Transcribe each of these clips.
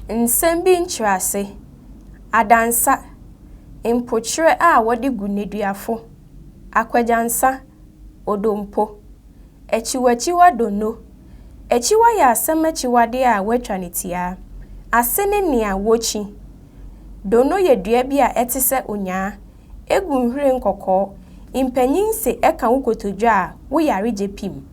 Nsɛm bi nkyerɛase, adansa, mpokyerɛ a wɔde gu nneduafo, akwadwansa, odompo, akyiwakyiwa donno. Akyiwa yɛ asɛm akyiwade a wɔatwa no tiaa. Ase ne nea wokyi. Donno yɛ dua bi a ɛte sɛ onyaa. egu nhwiren kɔkɔɔ, mpanyin se ɛka wo kotodwe a, wo yare gye pim.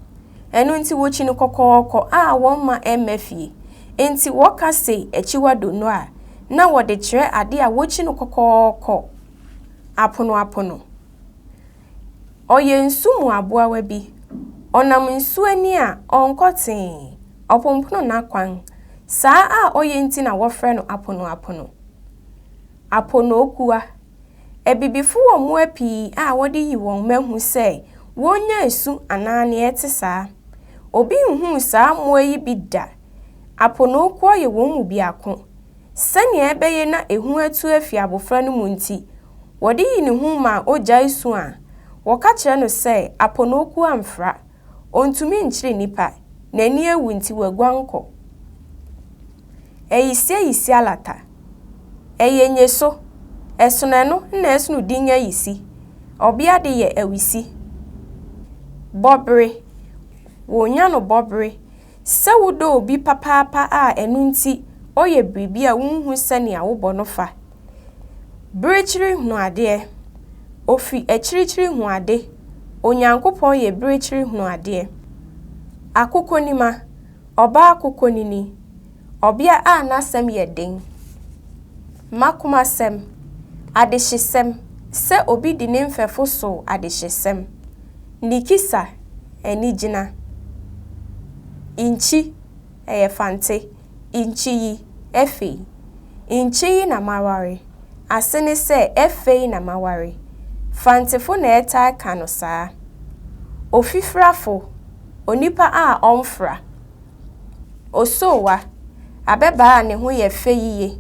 Ɛno nti wokyi no kɔkɔɔkɔ a wɔmma ɛmma fie. Enti wɔka se akyiwa donno a, na wɔde kyerɛ ade a wokyi no kɔkɔɔkɔ apono apono. Ɔyɛ nsu mu aboawa bi. Ɔnam nsu ani a, ɔnkɔ tee. Ɔpompono n'akwan. Saa a ɔyɛ nti na wɔfrɛ no apono apono. Aponokuwa. Abibifo wɔ mmoa pii a wɔde yi wɔn ma hu sɛ wonnya nsu anaa nea ɛte saa. Obi nhuu saa mmoa yi bi da. Aponokuwa yɛ wɔn mu biako. Sɛnea ɛbɛyɛ na ehu atu afi abofra no mu nti, wɔde yi ne ho ma ogyae su a, wɔka kyerɛ no sɛ aponokuwa mfra. Ontumi nkyere nnipa, n'ani awu nti waguan kɔ. Eisye Isialata, Eye nye so, esono eno nna esono din Ayisi, ɔbea de yɛ Awisi, bɔbere, wonya no bɔbere, sɛ wodɔ obi papaapa a ɛno nti ɔyɛ biribi a wunhu sɛnea wobɔ no fa. Berekyiri hunu adeɛ, Ofi akyirikyiri hu ade, Onyankopɔn yɛ berekyiri hunu adeɛ. Akokonima, Ɔbaa kokonini, ɔbea a n'asɛm yɛ den, mmakomasɛm, adehyesɛm, sɛ obi di ne mfɛfo so adehyesɛm, nikisa, anigyina, inkyi, ɛyɛ fante, inkyiyi, ɛfei, inkyiyi na maware, ase ne sɛ ɛfei na maware, fantefo na ɛtaa ka no saa, ofifirafo, onipa a ɔmfra, osoowa, abɛbaa a ne ho yɛ fɛ yiye,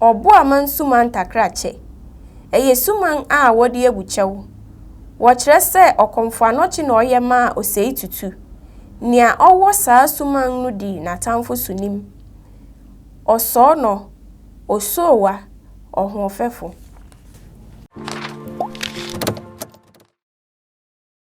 ɔbo a mansuma ntakrakyɛ, ɛyɛ suman a wɔde agu kyɛw, wɔkyerɛ sɛ ɔkɔmfoanɔkye na ɔyɛ maa ɔsɛetutu, nea ɔwɔ saa suman no di n'atamfo so nim, ɔsɔɔnɔ, osoowa, ɔhoɔfɛfo.